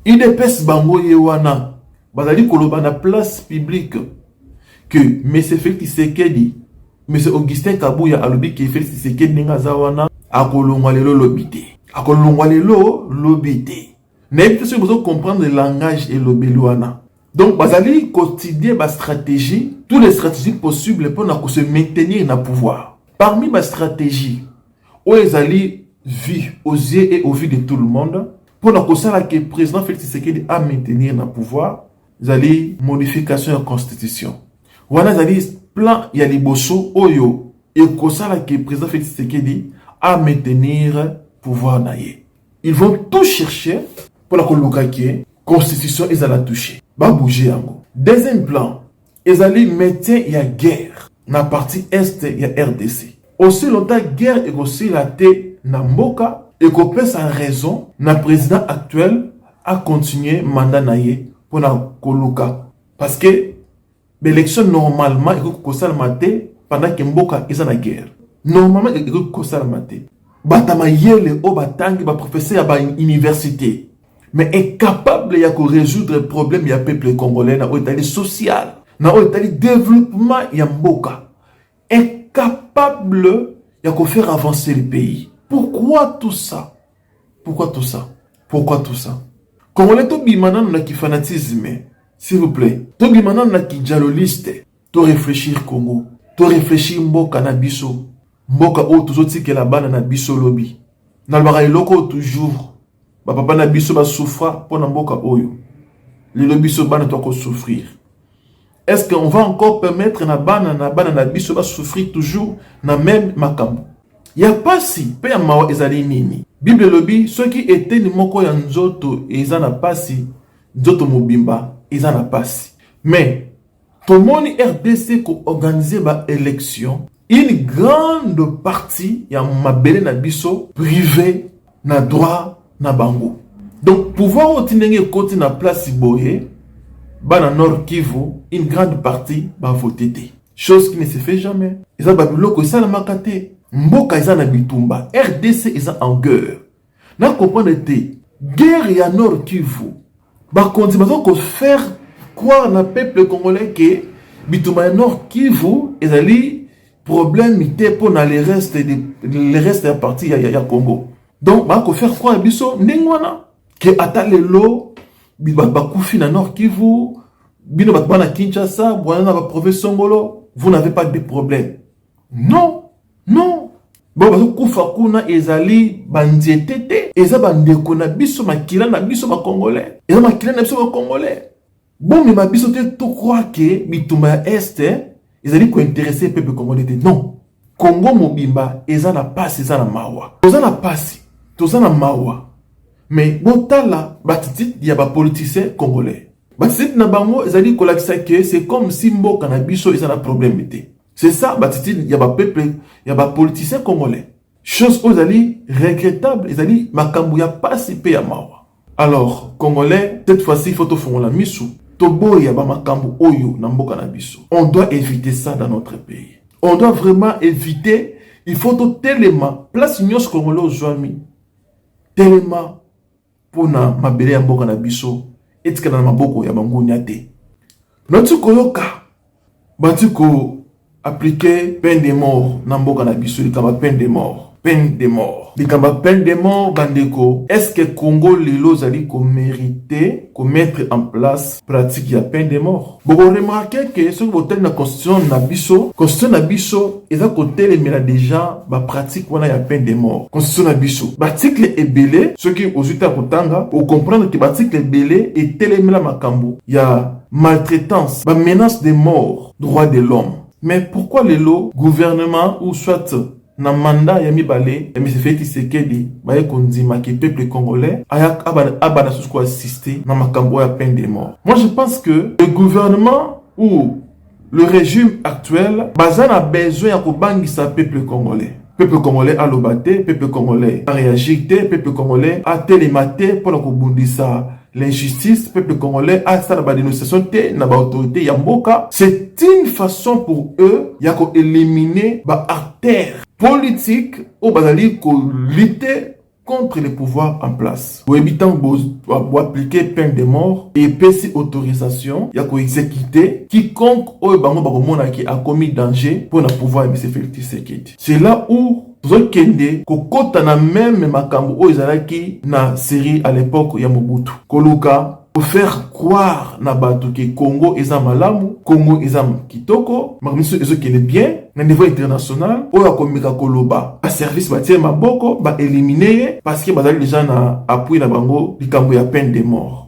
Udps bango ye wana bazali koloba na place publique que monsieur Felix Tshisekedi, monsieur Augustin Kabuya alobi que Felix Tshisekedi ndenge aza wana akolongwa lelo lobi te, akolongwa lelo lobi te. Nayebi te soki bozo comprendre langage elobeli wana. Donc bazali continuer ba stratégie, tous les stratégies possibles mpo na ko se maintenir na pouvoir. Parmi ba stratégie oyo ezali vue aux yeux et au vu de tout le monde mpo na kosala ke président Félix Tshisekedi a maintenir na pouvoir ezali modification ya constitution. Wana ezali plan ya liboso oyo ekosala ke président Félix Tshisekedi a maintenir pouvoir na ye. Ils vont tout chercher pour la koluka que constitution ezala touche ba bouger yango. Deuxième plan ezali médecin ya guerre na partie est ya RDC. Aussi longtemps guerre ekosila te na mboka ekopesa raison na président actuel a continuer mandat na ye pona koluka parce que Ba elections normalement ekoki kosalama te pendant que mboka eza na guerre. Normalement ekoki kosalama te. Bata mayele oyo batangi ba professeur ya ba université mais incapable ya ko résoudre problème ya peuple congolais na oyo etali social, na oyo etali développement ya mboka. est capable ya ko faire avancer le pays pourquoi tout ça pourquoi tout ça pourquoi tout ça congolais tobima nano na kifanatisme s'il vous plaît tobima nano na kijaloliste to réfléchir congo to réfléchir mboka na biso mboka oyo tozotikela bana na biso lobi nalobaka eloko oyo toujours Ba papa na biso ba souffra mpo na mboka oyo. Lelo biso bana to ko souffrir. Est-ce qu'on va encore permettre na bana na bana na biso ba souffrir toujours na même makambo? Ya pasi mpe ya mawa ezali nini? Bible elobi soki eteni moko ya nzoto eza na pasi, nzoto mobimba eza na pasi. Mais Tomoni rdc ko organiser ba elections, une grande partie ya mabele na biso prive na droit na bango. Donc pouvoir oyo ti ndenge ekoti na place boye, bana Nord Kivu une grande partie ba voter te. Chose qui ne se fait jamais. Eza ba biloko esalamaka te. Mboka eza na bitumba. Rdc eza en geurre. Na comprendre te guerre ya Nord Kivu bakonzi baza ko faire croire na peuple congolais que bitumba ya Nord Kivu ezali problème te mpo na le reste de le reste ya partie ya, ya, ya Congo donc ba ko faire croire biso ndenge wana ke ata lelo bakufi na Nord Kivu bino bato bana Kinshasa bwana na ba province songolo vous n'avez pas de problème non non bango bazokufa kuna ezali banzete te eza bandeko na biso makila na biso bakongolais eza makila na biso bakongolais bomema biso te tokroa ke bitumba ya este ezali kointerese pepe congolais te non kongo mobimba eza na mpasi eza na mawa toza na mpasi toza na mawa me botala batitite ya bapoliticien congolais batitite na bango ezali kolakisa ke c'est comme si mboka na biso eza na probleme te C'est ça l'attitude ya ba peuple ya ba politiciens congolais. Chose oyo ezali regrettable, ezali makambo ya pasi mpe ya mawa. Alors congolais, cette fois-ci il faut tofongola misu, toboya ba makambo oyo na mboka na biso. On doit éviter ça dans notre pays. On doit vraiment éviter, il faut totelema place nyonso congolais ozwami. Telema mpo na mabele ya mboka na biso etikala na maboko ya bangunia te nauti koyoka bati ko aplike peine de mort na mboka na biso likambo ya peine de mort peine de mort likambo ya peine de mort bandeko estce congo lelo ozali komerite komettre en place pratique ya peine de mort Boko remarquer que soki botali na constitution na biso, constitution na biso eza kotelemela deja ba pratique wana ya peine de mort. Constitution na biso ba article ebele soki ozui ta kotanga o comprendre que ba article ebele etelemela makambo ya maltraitance, ba menaces de mort, droit de l'homme. Mais pourquoi lelo gouvernement ou soit Na mandat ya mibale ya Monsieur Felix Tshisekedi, baye kondima que peuple congolais aya abanda susu ko assister na makambo oyo ya peine de mort. Moi je pense que le gouvernement ou le regime actuel baza na besoin ya kobangisa peuple congolais. Peuple congolais aloba te, peuple congolais a reagir te, peuple congolais atelema te mpo na kobundisa l'injustice peuple congolais asala ba dénonciation te na ba autorité ya mboka c'est une façon pour eux ya ko éliminer ba artères politiques oyo bazali ko lutter contre le pouvoir en place boyebi ntango boaplike peine de mort epesi autorisation ya koexekite quiconque oyo bango bakomonaki akomi danger mpo na pouvoir ya mise felix tshisekedi c'est là où tozokende kokota na meme makambo oyo ezalaki na Syrie à l'époque ya Mobutu, koluka ko faire croire na bato ke Congo eza malamu, Congo eza kitoko, makambo nyonso ezokende bien na niveau international. Oyo akomeka koloba ba service batie maboko ba elimine ye parce que bazali deja na appui na bango likambo ya peine de mort.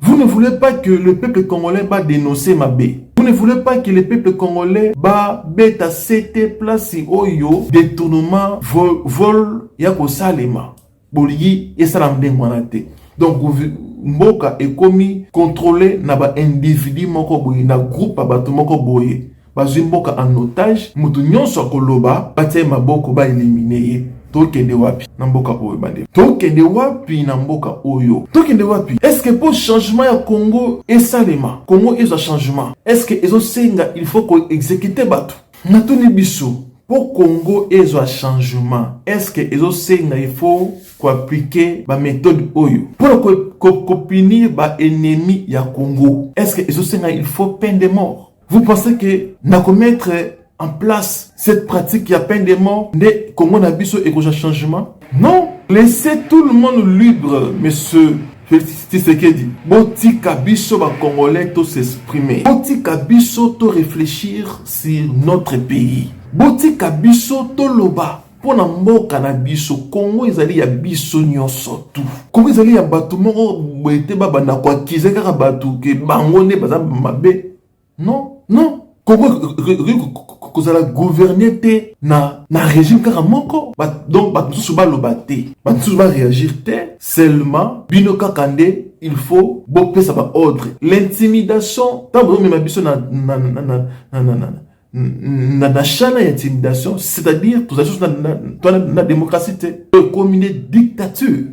Vous ne voulez pas que le peuple congolais ba denoncer mabe. Vous ne voulez pas que le peuple congolais ba beta sete place oyo détournement vol, vol ya kosalema bolingi esala ndenge wana te donc mboka ekomi contrôle na ba individu moko boye na groupe ya bato moko boye Bazwi mboka en otage, mutu nionso akoloba batia ye maboko ba eliminer ye. Tokende wapi na mboka oyo bandeko? Tokende wapi na mboka oyo? Tokende wapi? Est-ce que po changement ya Congo esalema, Congo ezwa changement, est-ce que ezo senga il faut ko executer batu? Natuni biso, po Congo ezwa changement, est-ce que ezo senga il faut ko appliquer ba methodes oyo pona ko ko punir ba ennemis ya Congo? Est-ce que ezo senga il faut peine de mort? Vous pensez que na ko mettre en place cette pratique ya peine de mort nde Congo na biso ekoja changement? Non, laissez tout le monde libre, monsieur Tshisekedi. Botika biso ba Congolais to s'exprimer. Botika biso to réfléchir sur notre pays. Botika biso to loba mpo na mboka na biso kongo ezali ya biso nyonso tu kongo ezali ya bato moko boye te babanda koakize kaka bato ke bango nde baza mabe non non kongo ekoki kozala gouverne te na, na régime kaka moko ba, donc bato mosusu baloba te bato mosusu bareagir te seulement bino kaka nde il faut bopesa baordre l'intimidation ntango bozomema biso na, na, na, na, na, na, na, na na na chana ya intimidation c'est-à-dire tozali susu na, na, na, na démocratie te ekomi nde dictature